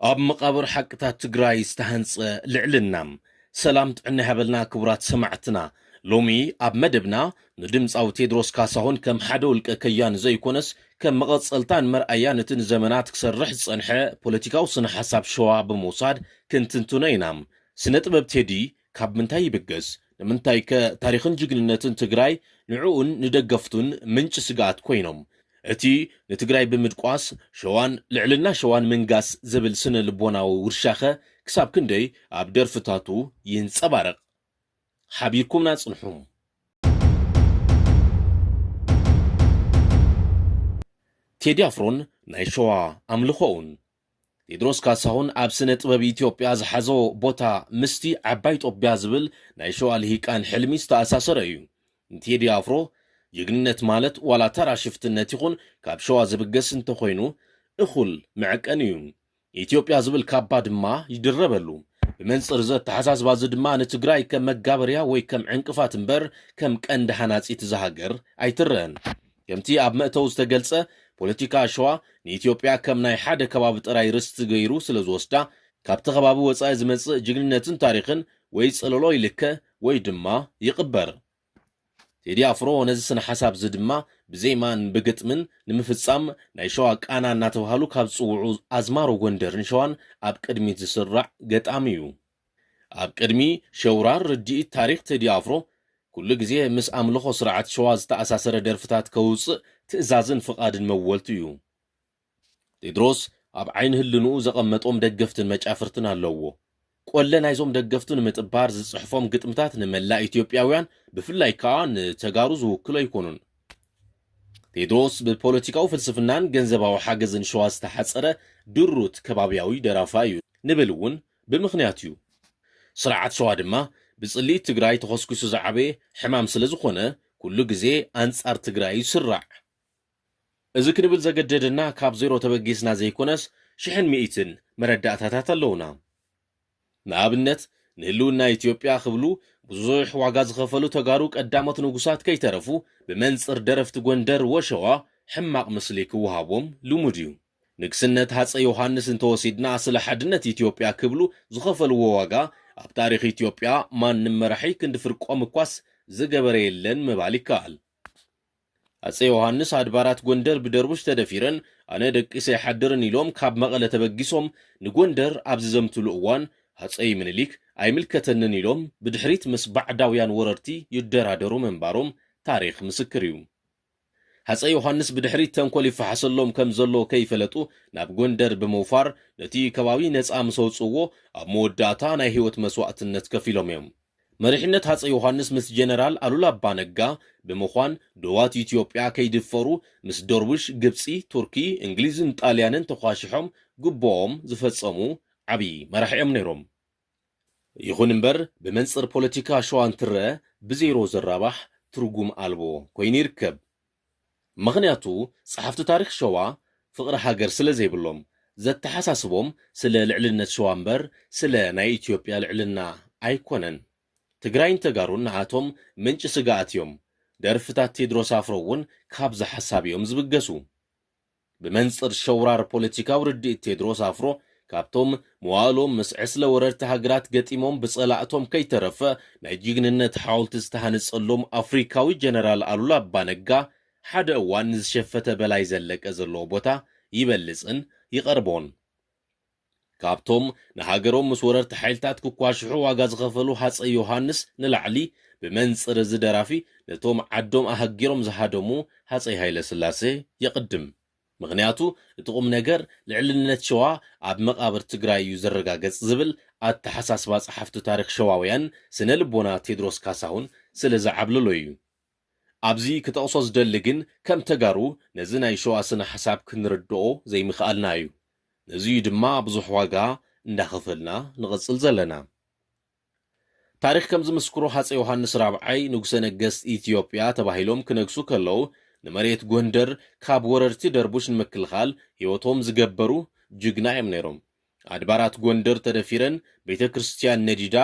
ኣብ መቓብር ሓቅታት ትግራይ ዝተሃንጸ ልዕልና። ሰላም ጥዕና ይሃበልና ክቡራት ሰማዕትና። ሎሚ ኣብ መደብና ንድምፃዊ ቴድሮስ ካሳሁን ከም ሓደ ውልቀ ከያኒ ዘይኮነስ ከም መቐጸልታን መርኣያን እቲ ንዘመናት ክሰርሕ ዝጸንሐ ፖለቲካዊ ስነ ሓሳብ ሸዋ ብምውሳድ ክንትንትኖ ኢና። ስነ ጥበብ ቴዲ ካብ ምንታይ ይብገስ? ንምንታይከ ታሪኽን ጅግንነትን ትግራይ ንዕኡን ንደገፍቱን ምንጪ ስግኣት ኮይኖም? እቲ ንትግራይ ብምድቋስ ሸዋን ልዕልና ሸዋን ምንጋስ ዝብል ስነ ልቦናዊ ውርሻኸ ክሳብ ክንደይ ኣብ ደርፍታቱ ይንጸባረቕ? ሓቢርኩምና ጽንሑ። ቴዲ ኣፍሮን ናይ ሸዋ ኣምልኾኡን። ቴድሮስ ካሳሁን ኣብ ስነ ጥበብ ኢትዮጵያ ዝሓዞ ቦታ ምስቲ ዓባይ ጦቢያ ዝብል ናይ ሸዋ ልሂቃን ሕልሚ ዝተኣሳሰረ እዩ። ንቴዲ ኣፍሮ ጅግንነት ማለት ዋላ ተራ ሽፍትነት ይኹን ካብ ሸዋ ዝብገስ እንተኾይኑ እኹል መዐቀኒ እዩ። ኢትዮጵያ ዝብል ካባ ድማ ይድረበሉ። ብመንጽር እዚ ኣተሓሳስባ እዚ ድማ ንትግራይ ከም መጋበርያ ወይ ከም ዕንቅፋት እምበር ከም ቀንዲ ሃናጺት እዛ ሃገር ኣይትረእን። ከምቲ ኣብ መእተዊ ዝተገልጸ፣ ፖለቲካ ሸዋ ንኢትዮጵያ ከም ናይ ሓደ ከባቢ ጥራይ ርስቲ ገይሩ ስለ ዝወስዳ፣ ካብቲ ከባቢ ወጻኢ ዝመጽእ ጅግንነትን ታሪኽን ወይ ጽለሎ ይልከ ወይ ድማ ይቕበር። ቴዲ ኣፍሮ ነዚ ስነ-ሓሳብ'ዚ ድማ ብዜማን ብግጥምን ንምፍጻም ናይ ሸዋ ቃና እናተባህሉ ካብ ዝጽውዑ ኣዝማሮ ጎንደርን ሸዋን ኣብ ቅድሚት ዝስራዕ ገጣሚ'ዩ። ኣብ ቅድሚ ሸውራር ርድኢት ታሪኽ ቴዲ ኣፍሮ ኩሉ ግዜ ምስ ኣምልኾ ስርዓት ሸዋ ዝተኣሳሰረ ደርፍታት ከውጽእ ትእዛዝን ፍቓድን መወልቱ እዩ። ቴድሮስ ኣብ ዓይኒ ህልንኡ ዘቐመጦም ደገፍትን መጫፍርትን ኣለዎ። ቆለ ናይዞም ደገፍቱ ንምጥባር ዝጽሕፎም ግጥምታት ንመላእ ኢትዮጵያውያን ብፍላይ ከኣ ንተጋሩ ዝውክሉ ኣይኮኑን። ቴድሮስ ብፖለቲካዊ ፍልስፍናን ገንዘባዊ ሓገዝን ሸዋ ዝተሓጸረ ድሩት ከባብያዊ ደራፋይ እዩ ንብል እውን ብምኽንያት እዩ። ስርዓት ሸዋ ድማ ብፅልኢት ትግራይ ተኾስኲሱ ዝዓበየ ሕማም ስለዝኾነ ኩሉ ግዜ ኣንፃር ትግራይ እዩ ዝስራዕ። እዚ ክንብል ዘገደደና ካብ ዜሮ ተበጊስና ዘይኮነስ ሽሕን ሚኢትን መረዳእታታት ኣለዉና። ንኣብነት ንህልውና ኢትዮጵያ ክብሉ ብዙሕ ዋጋ ዝኸፈሉ ተጋሩ ቀዳሞት ንጉሳት ከይተረፉ ብመንፅር ደረፍቲ ጎንደር ወሸዋ ሕማቕ ምስሊ ክወሃቦም ልሙድ እዩ። ንግስነት ሃጸይ ዮሃንስ እንተወሲድና ስለ ሓድነት ኢትዮጵያ ክብሉ ዝኸፈልዎ ዋጋ ኣብ ታሪኽ ኢትዮጵያ ማንም መራሒ ክንዲ ፍርቆም እኳስ ዝገበረ የለን ምባል ይከኣል። ሃጸይ ዮሃንስ ኣድባራት ጎንደር ብደርቡሽ ተደፊረን ኣነ ደቂሰ ኣይሓድርን ኢሎም ካብ መቐለ ተበጊሶም ንጎንደር ኣብ ዝዘምትሉ እዋን ሃጸይ ምንሊክ ኣይምልከተንን ኢሎም ብድሕሪት ምስ ባዕዳውያን ወረርቲ ይደራደሩ ምንባሮም ታሪኽ ምስክር እዩ። ሃፀይ ዮሃንስ ብድሕሪት ተንኮል ይፈሓሰሎም ከም ዘሎ ከይፈለጡ ናብ ጎንደር ብምውፋር ነቲ ከባቢ ነፃ ምስ ኣውፅእዎ ኣብ መወዳእታ ናይ ህይወት መስዋእትነት ከፊሎም እዮም። መሪሕነት ሃፀይ ዮሃንስ ምስ ጀነራል ኣሉላ ኣባ ነጋ ብምዃን ዶባት ኢትዮጵያ ከይድፈሩ ምስ ዶርቡሽ፣ ግብፂ፣ ቱርኪ፣ እንግሊዝን ጣልያንን ተዃሺሖም ግቡኦም ዝፈፀሙ ዓብዪ መራሒ እዮም ነይሮም። ይኹን እምበር ብመንጽር ፖለቲካ ሸዋ እንትረኣ ብዜሮ ዘራባሕ ትርጉም ኣልቦ ኮይኑ ይርከብ። ምኽንያቱ ጸሓፍቲ ታሪኽ ሸዋ ፍቕሪ ሃገር ስለ ዘይብሎም፣ ዘተሓሳስቦም ስለ ልዕልነት ሸዋ እምበር ስለ ናይ ኢትዮጵያ ልዕልና ኣይኮነን። ትግራይን ተጋሩን ንኣቶም ምንጪ ስግኣት እዮም። ደርፍታት ቴድሮስ ኣፍሮ እውን ካብዚ ሓሳብ እዮም ዝብገሱ። ብመንጽር ሸውራር ፖለቲካዊ ርድኢት ቴድሮስ ኣፍሮ፣ ካብቶም መዋእሎም ምስ ዕስለ ወረርቲ ሃገራት ገጢሞም ብጸላእቶም ከይተረፈ ናይ ጅግንነት ሓወልቲ ዝተሃንጸሎም ኣፍሪካዊ ጀነራል ኣሉላ ኣባ ነጋ ሓደ እዋን ንዝሸፈተ በላይ ዘለቀ ዘለዎ ቦታ ይበልጽን ይቐርቦን። ካብቶም ንሃገሮም ምስ ወረርቲ ሓይልታት ክኳሽሑ ዋጋ ዝኸፈሉ ሃጸይ ዮሃንስ ንላዕሊ፣ ብመንጽር እዚ ደራፊ ነቶም ዓዶም ኣሀጊሮም ዝሃደሙ ሃጸይ ሃይለስላሴ የቕድም። ምኽንያቱ እቲ ቁምነገር ልዕልነት ሸዋ ኣብ መቓብር ትግራይ እዩ ዝረጋገጽ ዝብል ኣተሓሳስባ ጸሓፍቲ ታሪኽ ሸዋውያን ስነ ልቦና ቴድሮስ ካሳሁን ስለ ዝዓብለሎ እዩ። ኣብዚ ክጠቕሶ ዝደሊ ግን ከም ተጋሩ ነዚ ናይ ሸዋ ስነ ሓሳብ ክንርድኦ ዘይምኽኣልና እዩ። ነዚ እዩ ድማ ብዙሕ ዋጋ እንዳኸፈልና ንቕጽል ዘለና። ታሪኽ ከም ዝምስክሮ ሃጸይ ዮሃንስ ራብዓይ ንጉሰ ነገስት ኢትዮጵያ ተባሂሎም ክነግሱ ከለው ንመሬት ጎንደር ካብ ወረርቲ ደርቡሽ ንምክልኻል ህይወቶም ዝገበሩ ጅግና እዮም ነይሮም። ኣድባራት ጎንደር ተደፊረን ቤተ ክርስትያን ነዲዳ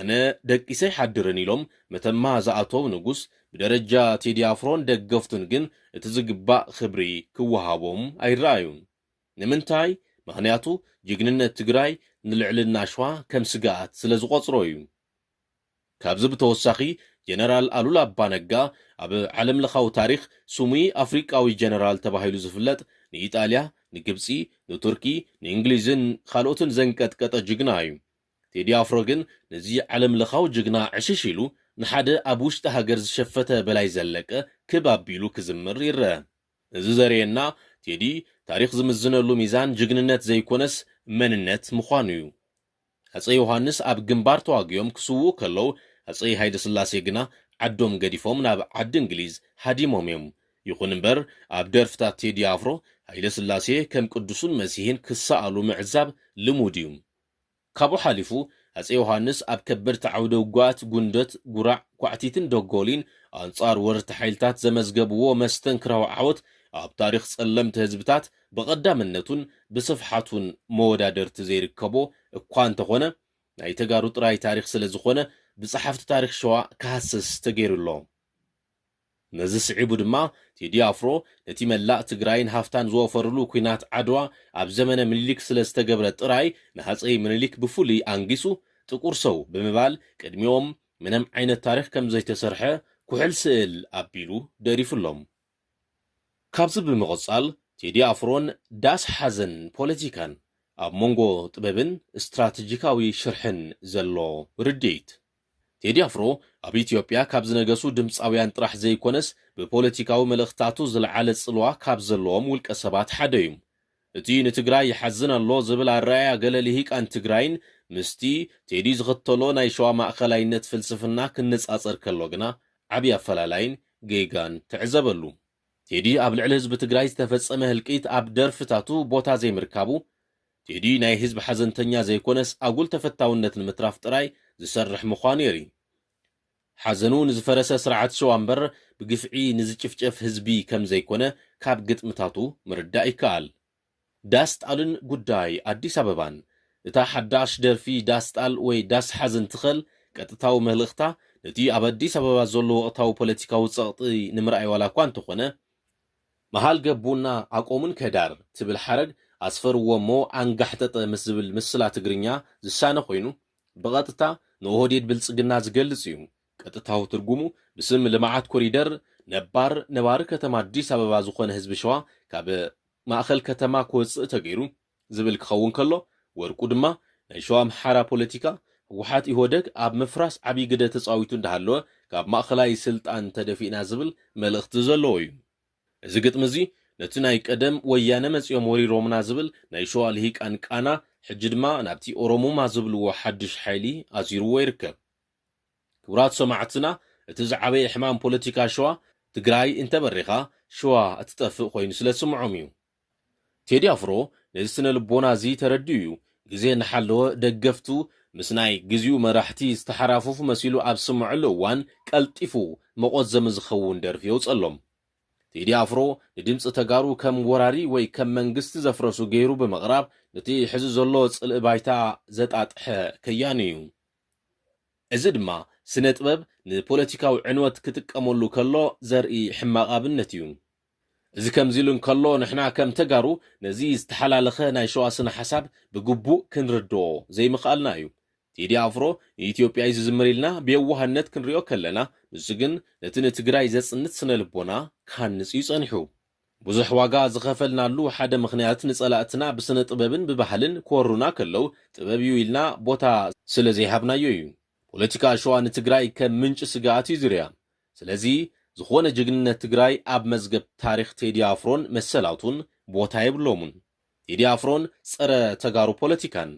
ኣነ ደቂሰ ኣይሓድርን ኢሎም መተማ ዝኣተው ንጉስ ብደረጃ ቴዲ ኣፍሮን ደገፍቱን ግን እቲ ዝግባእ ክብሪ ክወሃቦም ኣይረኣዩን ንምንታይ ምኽንያቱ ጅግንነት ትግራይ ንልዕልና ሽዋ ከም ስግኣት ስለ ዝቖፅሮ እዩ ካብዚ ብተወሳኺ ጀነራል ኣሉላ ኣባነጋ ኣብ ዓለም ለኻዊ ታሪኽ ስሙይ ኣፍሪቃዊ ጀነራል ተባሂሉ ዝፍለጥ ንኢጣልያ፣ ንግብጺ፣ ንቱርኪ፣ ንእንግሊዝን ካልኦትን ዘንቀጥቀጠ ጅግና እዩ። ቴዲ ኣፍሮ ግን ነዚ ዓለም ለኻዊ ጅግና ዕሽሽ ኢሉ ንሓደ ኣብ ውሽጢ ሃገር ዝሸፈተ በላይ ዘለቀ ክብ ኣቢሉ ክዝምር ይረኣ። እዚ ዘርእየና ቴዲ ታሪኽ ዝምዝነሉ ሚዛን ጅግንነት ዘይኮነስ መንነት ምዃኑ እዩ። ሃጸይ ዮሃንስ ኣብ ግንባር ተዋጊኦም ክስውኡ ከለው፣ ሃጸይ ሃይለስላሴ ግና ዓዶም ገዲፎም ናብ ዓዲ እንግሊዝ ሃዲሞም እዮም። ይኹን እምበር ኣብ ደርፍታት ቴዲ ኣፍሮ፣ ሃይለስላሴ ከም ቅዱሱን መሲሕን ክሰኣሉ ምዕዛብ ልሙድ እዩ። ካብኡ ሓሊፉ ሃጸይ ዮሃንስ ኣብ ከበድቲ ዓውደ ውጉኣት ጉንደት፣ ጉራዕ፣ ኳዕቲትን ደጎሊን ኣንጻር ወረርቲ ሓይልታት ዘመዝገብዎ መስተንክራዊ ዓወት ኣብ ታሪኽ ጸለምቲ ህዝብታት ብቐዳምነቱን ብስፍሓቱን መወዳድርቲ ዘይርከቦ እኳ እንተኾነ ናይ ተጋሩ ጥራይ ታሪኽ ስለ ዝኾነ ብጸሓፍቲ ታሪኽ ሸዋ ክሃስስ ተገይሩ ኣሎ። ነዚ ስዒቡ ድማ ቴዲ ኣፍሮ ነቲ መላእ ትግራይን ሃፍታን ዝወፈርሉ ኩናት ዓድዋ ኣብ ዘመነ ምኒሊክ ስለ ዝተገብረ ጥራይ ንሃጸይ ምኒሊክ ብፍሉይ ኣንጊሱ ጥቁር ሰው ብምባል ቅድሚኦም ምንም ዓይነት ታሪኽ ከም ዘይተሰርሐ ኩሕል ስእል ኣቢሉ ደሪፉሎም። ካብዚ ብምቕጻል ቴዲ ኣፍሮን ዳስ ሓዘን ፖለቲካን ኣብ መንጎ ጥበብን ስትራተጂካዊ ሽርሕን ዘሎ ርድኢት። ቴዲ ኣፍሮ ኣብ ኢትዮጵያ ካብ ዝነገሱ ድምጻውያን ጥራሕ ዘይኮነስ ብፖለቲካዊ መልእኽታቱ ዝለዓለ ጽልዋ ካብ ዘለዎም ውልቀሰባት ሓደ'ዩ። እቲ ንትግራይ ይሓዝን ኣሎ ዝብል ኣረኣእያ ገለ ልሂቃን ትግራይን ምስቲ ቴዲ ዝኽተሎ ናይ ሸዋ ማእከላይነት ፍልስፍና ክነጻጸር ከሎ ግና ዓቢ ኣፈላላይን ጌጋን ትዕዘበሉ። ቴዲ ኣብ ልዕሊ ህዝቢ ትግራይ ዝተፈጸመ ህልቂት ኣብ ደርፍታቱ ቦታ ዘይምርካቡ፣ ቴዲ ናይ ህዝቢ ሓዘንተኛ ዘይኮነስ ኣጉል ተፈታውነት ንምትራፍ ጥራይ ዝሰርሕ ምዃኑ የርኢ። ሓዘኑ ንዝፈረሰ ስርዓት ሸዋ እምበር ብግፍዒ ንዝጭፍጨፍ ህዝቢ ከም ዘይኮነ ካብ ግጥምታቱ ምርዳእ ይከኣል። ዳስ ጣልን ጉዳይ ኣዲስ ኣበባን፣ እታ ሓዳሽ ደርፊ ዳስ ጣል ወይ ዳስ ሓዝ እንትኸል ቀጥታዊ መልእኽታ ነቲ ኣብ ኣዲስ ኣበባ ዘሎ ወቕታዊ ፖለቲካዊ ጸቕጢ ንምርኣይ ዋላ እኳ እንተኾነ፣ መሃል ገቡና ኣቆሙን ከዳር ትብል ሓረግ ኣስፈርዎ እሞ ኣንጋሕጠጠ ምስ ዝብል ምስላ ትግርኛ ዝሳነ ኮይኑ፣ ብቐጥታ ንኦህዴድ ብልፅግና ዝገልፅ እዩ። ቀጥታዊ ትርጉሙ ብስም ልምዓት ኮሪደር ነባር ነባሪ ከተማ ኣዲስ ኣበባ ዝኾነ ህዝቢ ሸዋ ካብ ማእኸል ከተማ ክወፅእ ተገይሩ ዝብል ክኸውን ከሎ ወርቁ ድማ ናይ ሸዋ ኣምሓራ ፖለቲካ ህወሓት ኢህወደግ ኣብ ምፍራስ ዓብዪ ግደ ተፃዊቱ እንዳሃለወ ካብ ማእኸላይ ስልጣን ተደፊእና ዝብል መልእኽቲ ዘለዎ እዩ። እዚ ግጥሚ እዚ ነቲ ናይ ቀደም ወያነ መጺኦም ወሪሮምና ዝብል ናይ ሸዋ ልሂቃን ቃና ሕጂ ድማ ናብቲ ኦሮሙማ ዝብልዎ ሓድሽ ሓይሊ ኣዚርዎ ይርከብ። ክቡራት ሰማዕትና እቲ ዝዓበየ ሕማም ፖለቲካ ሸዋ ትግራይ እንተበሪኻ ሸዋ እትጠፍእ ኮይኑ ስለ ዝስምዖም እዩ። ቴዲ ኣፍሮ ነዚ ስነ-ልቦና እዚ ተረዲኡ እዩ። ግዜ እናሓለወ ደገፍቱ ምስ ናይ ግዚኡ መራሕቲ ዝተሓራፈፉ መሲሉ ኣብ ዝስመዐሉ እዋን ቀልጢፉ መቖዘሚ ዝኸውን ደርፊ የውፀሎም። ቴዲ ኣፍሮ ንድምፂ ተጋሩ ከም ወራሪ ወይ ከም መንግስቲ ዘፍረሱ ገይሩ ብምቕራብ ንቲ ሕዚ ዘሎ ፅልኢ ባይታ ዘጣጥሐ ከያኒ እዩ። እዚ ድማ ስነ-ጥበብ ንፖለቲካዊ ዕንወት ክጥቀመሉ ከሎ ዘርኢ ሕማቕ ኣብነት እዩ። እዚ ከምዚ ኢሉ እንከሎ ንሕና ከም ተጋሩ ነዚ ዝተሓላለኸ ናይ ሸዋ ስነ ሓሳብ ብግቡእ ክንርድኦ ዘይምኽኣልና እዩ። ቴዲ ኣፍሮ ንኢትዮጵያ እዩ ዝዝምር ኢልና ብየዋህነት ክንሪኦ ከለና ንሱ ግን ነቲ ንትግራይ ዘጽንት ስነ ልቦና ክሃንጽ እዩ ጸኒሑ። ብዙሕ ዋጋ ዝኸፈልናሉ ሓደ ምኽንያት ንጸላእትና ብስነ ጥበብን ብባህልን ክወሩና ከለው ጥበብ እዩ ኢልና ቦታ ስለ ዘይሃብናዮ እዩ። ፖለቲካ ሸዋ ንትግራይ ከም ምንጪ ስግኣት እዩ ዝሪኣ። ስለዚ ዝኾነ ጅግንነት ትግራይ ኣብ መዝገብ ታሪኽ ቴዲ ኣፍሮን መሰላቱን ቦታ የብሎሙን። ቴዲ ኣፍሮን ፀረ ተጋሩ ፖለቲካን።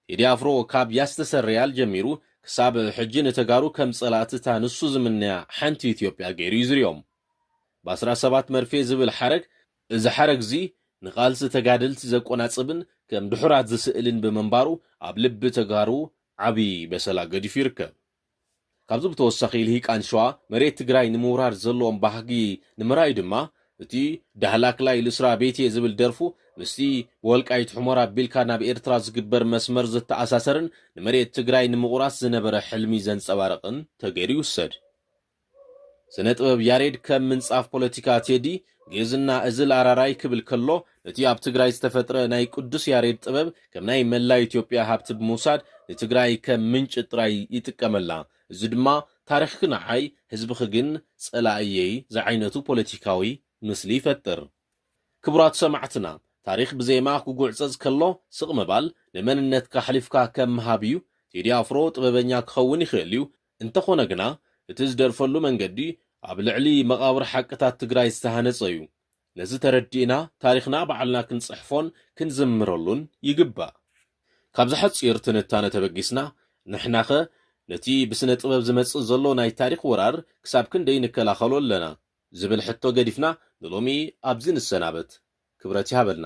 ቴዲ ኣፍሮ ካብ ያስተሰርያል ጀሚሩ ክሳብ ሕጂ ንተጋሩ ከም ፀላእቲ እታ ንሱ ዝምነያ ሓንቲ ኢትዮጵያ ገይሩ እዩ ዝሪኦም። ባስራ ሰባት መርፌ ዝብል ሓረግ እዚ ሓረግ እዚ ንቓልሲ ተጋደልቲ ዘቆናፅብን ከም ድሑራት ዝስእልን ብምንባሩ ኣብ ልቢ ተጋሩ ዓብዪ በሰላ ገዲፉ ይርከብ። ካብዚ ብተወሳኺ ልሂቃን ሸዋ መሬት ትግራይ ንምውራር ዘለዎም ባህጊ ንምርኣይ ድማ እቲ ዳህላክላይ ልስራ ቤቴ ዝብል ደርፉ ምስቲ ብወልቃይት ሑመራ ኣቢልካ ናብ ኤርትራ ዝግበር መስመር ዝተኣሳሰርን ንመሬት ትግራይ ንምቑራስ ዝነበረ ሕልሚ ዘንጸባርቕን ተገይሩ ይውሰድ። ስነ ጥበብ ያሬድ ከም ምንጻፍ ፖለቲካ ቴዲ፣ ግእዝና እዝል ኣራራይ ክብል ከሎ፣ ነቲ ኣብ ትግራይ ዝተፈጥረ ናይ ቅዱስ ያሬድ ጥበብ ከም ናይ መላ ኢትዮጵያ ሃብቲ ብምውሳድ ንትግራይ ከም ምንጪ ጥራይ ይጥቀመላ። እዚ ድማ ታሪኽኪ ንዓይ፣ ህዝብኺ ግን ጸላኢየይ ዝዓይነቱ ፖለቲካዊ ምስሊ ይፈጥር። ክቡራት ሰማዕትና፣ ታሪኽ ብዜማ ክጉዕጸጽ ከሎ ስቕ ምባል፣ ንመንነትካ ኣሕሊፍካ ከም ምሃብ እዩ። ቴዲ ኣፍሮ ጥበበኛ ክኸውን ይኽእል'ዩ፣ እንተኾነ ግና እቲ ዝደርፈሉ መንገዲ ኣብ ልዕሊ መቓብር ሓቅታት ትግራይ ዝተሃነፀ እዩ። ነዚ ተረዲእና ታሪኽና ባዕልና ክንፅሕፎን ክንዝምረሉን ይግባእ። ካብዚ ሓፂር ትንታነ ተበጊስና ንሕናኸ ነቲ ብስነ ጥበብ ዝመፅእ ዘሎ ናይ ታሪኽ ወራር ክሳብ ክንደይ ንከላኸሎ ኣለና? ዝብል ሕቶ ገዲፍና ንሎሚ ኣብዚ ንሰናበት። ክብረት ይሃበልና!